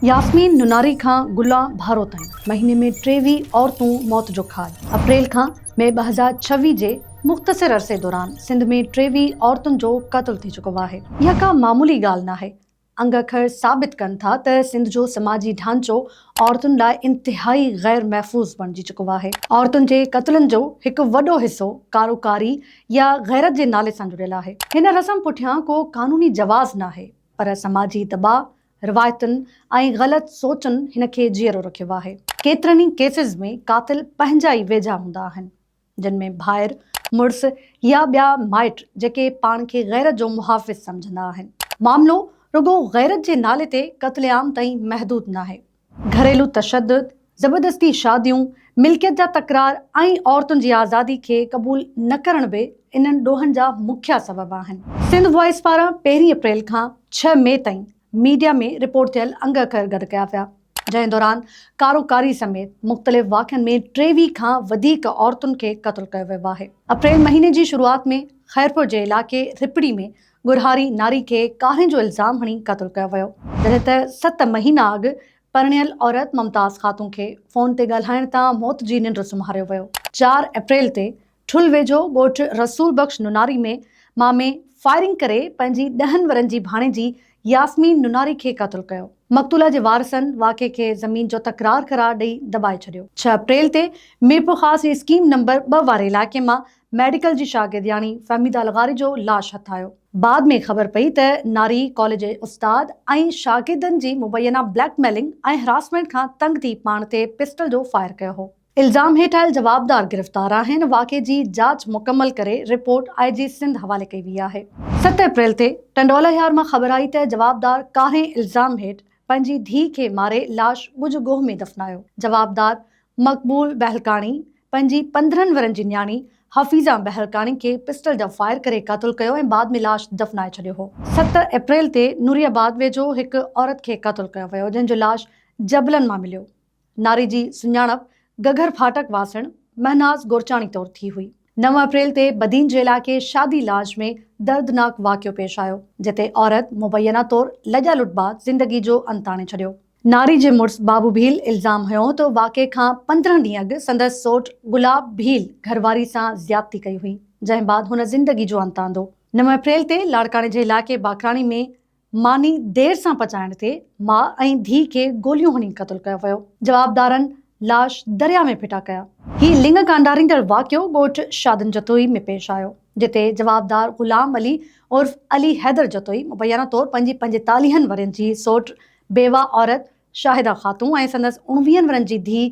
ياسمين نوناري کان گلا ڀارو تائين مهيني ۾ ٽيويهه عورتون موت جو کاڄ، اپريل کان مئي ٻه هزار ڇويهه جي مختصر عرصي دوران سنڌ ۾ ٽيويهه عورتن جو قتل ٿي چڪو آهي، اها ڪا معمولي ڳالهه ناهي، انگ اکر ثابت ڪن ٿا ته سنڌ جو سماجي ڍانچو عورتن لاء انتهائي غير محفوظ بڻجي چڪو آهي، عورتن جي قتلن جو هڪ وڏو حصو ڪارو ڪاري يا غيرت جي نالي سان جڙيل آهي، هن رسم پٺيان ڪو قانوني جواز ناهي پر سماجي دٻاء روايتن ۽ غلط سوچن هن کي جيئرو رکيو آهي. ڪيترن ئي ڪيسز ۾ قاتل پنهنجا ئي ويجها هوندا آهن، جن ۾ ڀائر، مڙس يا ٻيا مائٽ جيڪي پاڻ کي غيرت جو محافظ سمجهندا آهن. معاملو رڳو غيرت جي نالي تي قتل عام تائين محدود ناهي، گهريلو تشدد، زبردستي شاديون، ملڪيت جا تڪرار ۽ عورتن جي آزادي کي قبول نه ڪرڻ به انهن ڏوهن جا مکيه سبب آهن. سنڌ وائس پاران پهرين اپريل کان ڇهه مئي تائين ميڊيا ۾ رپورٽ ٿيل انگ اکر گڏ ڪيا ويا، جنهن دوران ڪارو ڪاري سميت مختلف واقعن ۾ ٽيويهه کان وڌيڪ عورتن کي قتل ڪيو ويو آهي. اپريل مهيني جي شروعات ۾ خيرپور جي علائقي رپڙي ۾ ڳورهاري ناري کي ڪاهين جو الزام هڻي قتل ڪيو ويو، جڏهن ته ست مهينا اڳ پرڻيل عورت ممتاز خاتون کي فون تي ڳالهائڻ تان موت جي ننڊ سمهاريو ويو. چار اپريل تي ٺل ويجهو ڳوٺ رسول بخش نوناري ۾ مامي فائرنگ ڪري پنهنجي ڏهن ورهين جي ڀاڻيجي ياسمين نوناري کي قتل ڪيو، مقتوله جي وارثن واقعي کي زمين جو تڪرار قرار ڏئي دٻائي ڇڏيو. ڇهه اپريل تي ميرپورخاص جي اسڪيم نمبر ٻه واري علائقي مان ميڊيڪل جي شاگردياڻي فهميده الغاري جو لاش هٿايو. بعد ۾ خبر پئي ته ناري ڪاليج جي استاد ۽ شاگردن جي مبينا بليڪ ميلنگ ۽ هراسمينٽ کان تنگ ٿي پاڻ تي پسٽل جو فائر ڪيو هو. الزام هيٺ آيل جوابدار گرفتار آهن، واقعي جي جاچ مڪمل ڪري رپورٽ آء جي سنڌ حوالي ڪئي وئي آهي. ست اپريل تي ٽنڊوالهيار مان خبر آئي ته جوابدار ڪارنهن الزام هيٺ پنهنجي ڌيء کي ماري لاش ڳجهه ڳوهه ۾ دفنايو، جوابدار مقبول بهلڪاڻي پنهنجي پندرهن ورهين جي نياڻي حفيظه بهلڪاڻي کي پسٽل جا فائر ڪري قتل ڪيو ۽ بعد ۾ لاش دفنائي ڇڏيو هو. ست اپريل تي نوري آباد ويجهو هڪ عورت کي قتل ڪيو ويو جنهن جو لاش جبلن مان مليو. ناري جي سڃاڻپ گگهر ڦاٽڪ واسڻ مهناز گورچاڻي طور ٿي هئي. نو اپريل تي بدين جي علائقي شادي لاج ۾ دردناڪ واقعو پيش آيو جتي عورت مبينا طور لڄا لٽ بعد زندگي جو انت آڻي ڇڏيو. ناري جي مڙس بابو ڀيل الزام هنيو ته واقعي کان پندرهن ڏينهن اڳ سندس سوٽ گلاب ڀيل گهرواري سان زيادتي ڪئي هئي، جنهن بعد هن زندگي جو انت آندو. نو اپريل تي لاڙڪاڻي جي علائقي باقراڻي ۾ ماني دير سان پچائڻ تي ماء ۽ ڌيء کي گوليون هڻي قتل ڪيو ويو، جوابدارن لاش درياء ۾ ڦٽا ڪيا. هي لڱ ڪانڊاريندڙ واقعو ڳوٺ شادن جتوئي ۾ پيش آيو، جتي جوابدار غلام علي عرف علي حيدر جتوئي مبينا طور پنهنجي پنجيتاليهن ورهين جي سوٽ بيواه عورت شاهده خاتون ۽ سندس اڻويهن ورهن جي ڌيء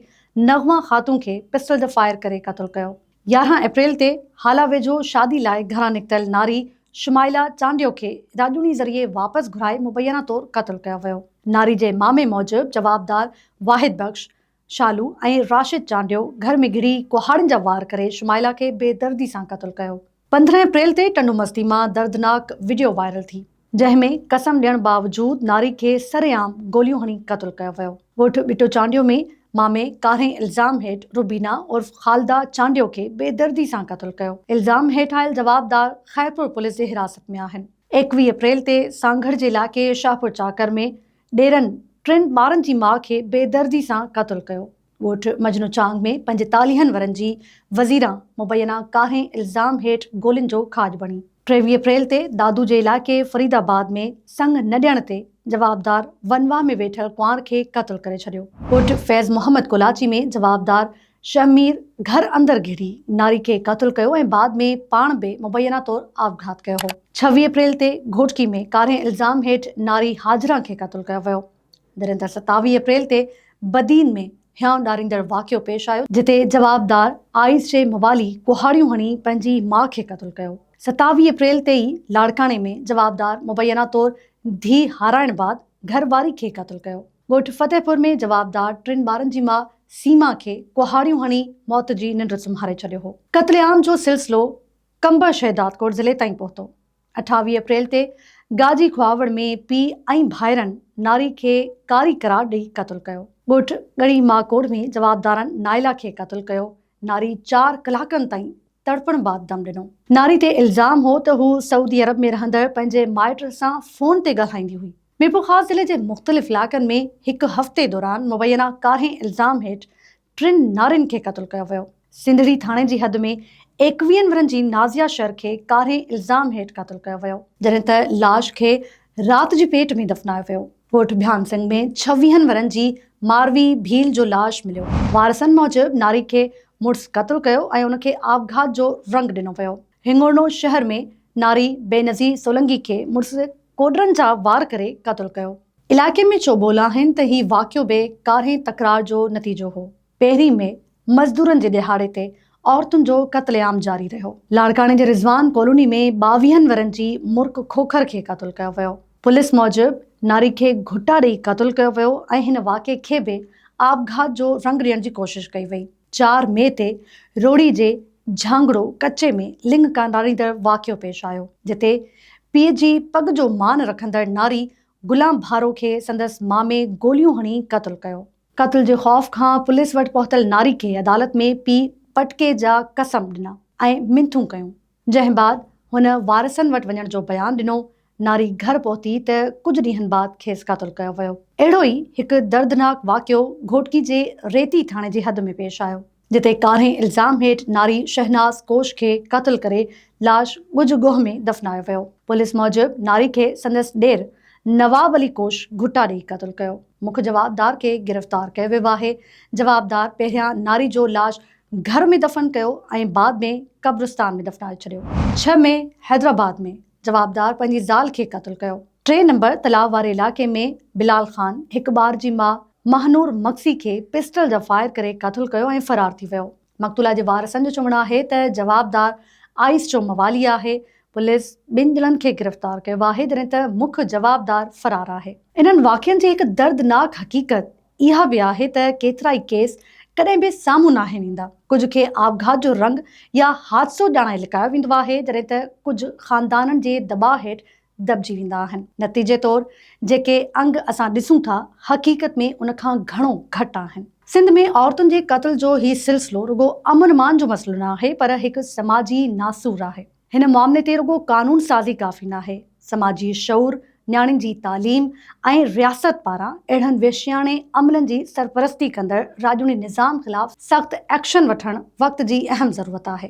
نغمه خاتون کي پسٽل جو فائر ڪري قتل ڪيو. يارهن اپريل تي هالا ويجهو شادي لاء گهران نڪتل ناري شمائلا چانڊيو کي راڄوڻي ذريعي واپس گهرائي مبينا طور قتل ڪيو ويو. ناري جي مامي موجب جوابدار واحد بخش شالو ۽ راشد چانڊيو گهر ۾ گهڙي ڪهاڙن جا وار ڪري شمائلا کي بي دردي سان قتل ڪيو. پندرهن اپريل تي ٽنڊومستي مان دردناڪ وڊيو وائرل ٿي، جنهن ۾ قسم ڏيڻ باوجود ناري کي سرعام گوليون هڻي قتل ڪيو ويو. ڳوٺ ٻٽو چانڊيو ۾ مامي ڪارنهن الزام هيٺ روبينا عرف خالده چانڊيو کي بي دردي سان قتل ڪيو. الزام هيٺ آيل جوابدار خيرپور پوليس جي حراست ۾ آهن. ايڪويهه اپريل تي سانگهڙ جي علائقي شاهپور چاڪر ۾ ڏيرن ٽن ٻارن جي ماء کي بي دردي سان قتل ڪيو، ڳوٺ مجنو چانگ ۾ پنجيتاليهن ورهين جي وزيران مبينا ڪارنهن الزام هيٺ گولين جو کاڄ بڻي. ٽيويهه اپريل تي دادو جي علائقي فريد آباد ۾ سڱ نه ڏيڻ تي جوابدار ونواهه ۾ ويٺل ڪنوار کي قتل ڪري ڇڏيو. ڳوٺ فيض محمد ڪولاچي ۾ جوابدار شهمير گهر اندر گهڙي ناري کي قتل ڪيو ۽ بعد ۾ پاڻ به مبينا طور آپگهات ڪيو هو. ڇويهه اپريل تي گهوٽڪي ۾ ڪارنهن الزام هيٺ ناري هاجران کي قتل ڪيو ويو. دريندر ستاويهه اپريل تي بدين ۾ هيانء ڏاريندڙ واقعو پيش آيو، جتي جوابدار آئيس جي موالي ڪهاڙيون هڻي پنهنجي ماء کي قتل ڪيو، ستاويهه اپريل تي ئي لاڙڪاڻي ۾ جوابدار مبينا طور ڌيء هارائڻ بعد گهر واري کي قتل ڪيو. ڳوٺ فتح پور ۾ جوابدار ٽن ٻارن جي ماء سيما کي ڪهاڙيون هڻي موت جي ننڊ سمهاري ڇڏيو هو. قتل عام جو سلسلو قمبر شهدادڪوٽ ضلعي تائين پهتو. اٺاويهه اپريل تي گاجي کهاوڙ ۾ پيء ۽ ڀائرن ناري کي ڪاري قرار ڏئي قتل ڪيو. ڳوٺ ڳڙهي ماڪوڙ ۾ جوابدارن نائلا کي قتل ڪيو. ناري چار ڪلاڪن تائين تڙپڻ بعد دم ڏنو. ناري تي الزام هو ته هو سعودي عرب ۾ رهندڙ پنهنجي مائٽ سان فون تي ڳالهائيندي هئي. ميرپورخاص ضلعي جي مختلف علائقن ۾ هڪ هفتي دوران مبينا ڪارهين الزام هيٺ ٽن نارين کي قتل ڪيو ويو. سنڌڙي ٿاڻي جي حد ۾ ايڪويهن ورهن جي نازيا شر کي ڪارهين الزام هيٺ قتل ڪيو ويو. جڏهن ته لاش کي رات جي پيٽ ۾ دفنايو ويو. ڳوٺ ڀيان سنگ ۾ ڇويهن ورهن جي ماروي ڀيل جو لاش مليو. وارثن موجب ناري کي مڙس قتل ڪيو ۽ ان کي آپگهات جو رنگ ڏنو ويو. هنڱورنو شهر ۾ ناري بينظير سولنگي کي مڙس ڪوڏرن جا وار ڪري قتل ڪيو. علائقي ۾ چوٻول آهن ته هي واقعو به ڪارنهن تڪرار جو نتيجو هو. پهرين مئي مزدورن جي ڏهاڙي تي عورتن جو قتل عام جاري رهيو. لاڙڪاڻي جي رضوان ڪالوني ۾ ٻاويهن ورهين جي مرڪ کوکر کي قتل ڪيو ويو. پوليس موجب ناري کي گهٽا ڏئي قتل ڪيو ويو ۽ هن واقعي کي به آپگهات جو رنگ ڏيڻ جي ڪوشش ڪئي وئي. چار مئي تي روھڙي جي جھانگڙو ڪچي ۾ لڱ ڪانڊاڙيندڙ واقعو پيش آيو، جتي پيء جي پڳ جو مان رکندڙ ناري غلام ڀارو کي سندس مامي گوليون ھڻي قتل ڪيو. قتل جي خوف کان پوليس وٽ پهتل ناري کي عدالت ۾ پيء پٽڪي جا قسم ڏنا ۽ منٿون ڪيون، جنهن بعد هن وارثن وٽ وڃڻ جو بيان ڏنو، ناري گهر پهتي ته ڪجهه ڏينهن بعد کيس قتل ڪيو ويو. اهڙو ئي هڪ دردناڪ واقعو گهوٽڪي جي ريتي ٿاڻي جي حد ۾ پيش آيو، جتي ڪارنهن الزام هيٺ ناري شهناز ڪوش کي قتل ڪري لاش ڳجهه ڳوهه ۾ دفنايو ويو. پوليس موجب ناري کي سندس ڏير نواب علي ڪوش گهٽا ڏيئي قتل ڪيو. مک جوابدار کي گرفتار ڪيو ويو آهي. جوابدار پهريان ناري جو لاش گهر ۾ دفن ڪيو ۽ بعد ۾ قبرستان ۾ دفنائي ڇڏيو. ڇهه مئي حيدرآباد ۾ جوابدار پنهنجي زال کي قتل ڪيو. ٽي نمبر تلاء واري علائقي ۾ بلال خان هڪ ٻار جي ماء مهنور مگسي کي پسٽل جا فائر ڪري قتل ڪيو ۽ فرار ٿي ويو. مقتولا جي وارثن جو چوڻ آهي ته جوابدار آئيس جو موالي آهي. پوليس ٻن ڄڻن کي گرفتار ڪيو آهي جڏهن ته مک جوابدار فرار آهي. انهن واقعن جي هڪ دردناڪ حقيقت اها به آهي ته ڪيترائي ڪيس ڪڏهن به سامهون ناهن ايندا، ڪجهه کي آپگهات جو رنگ يا حادثو ڄاڻائي لڪايو ويندو آهي، جڏهن ته ڪجهه خاندانن جي دٻاء هيٺ دٻجي ويندا آهن. نتيجي طور جيڪي انگ اسان ڏسون ٿا، حقيقت ۾ ان کان گهڻو گهٽ آهن. سنڌ ۾ عورتن جي قتل جو هي سلسلو رڳو امن امان جو مسئلو نه آهي، پر هڪ سماجي ناسور آهي. هن معاملي تي رڳو قانون سازي ڪافي ناهي، سماجي شعور، نياڻين جي تعليم ۽ رياست پاران اهڙن وحشياڻي عملن جي سرپرستي ڪندڙ راڄوڻي نظام خلاف سخت ايڪشن وٺڻ وقت جي اهم ضرورت آهي.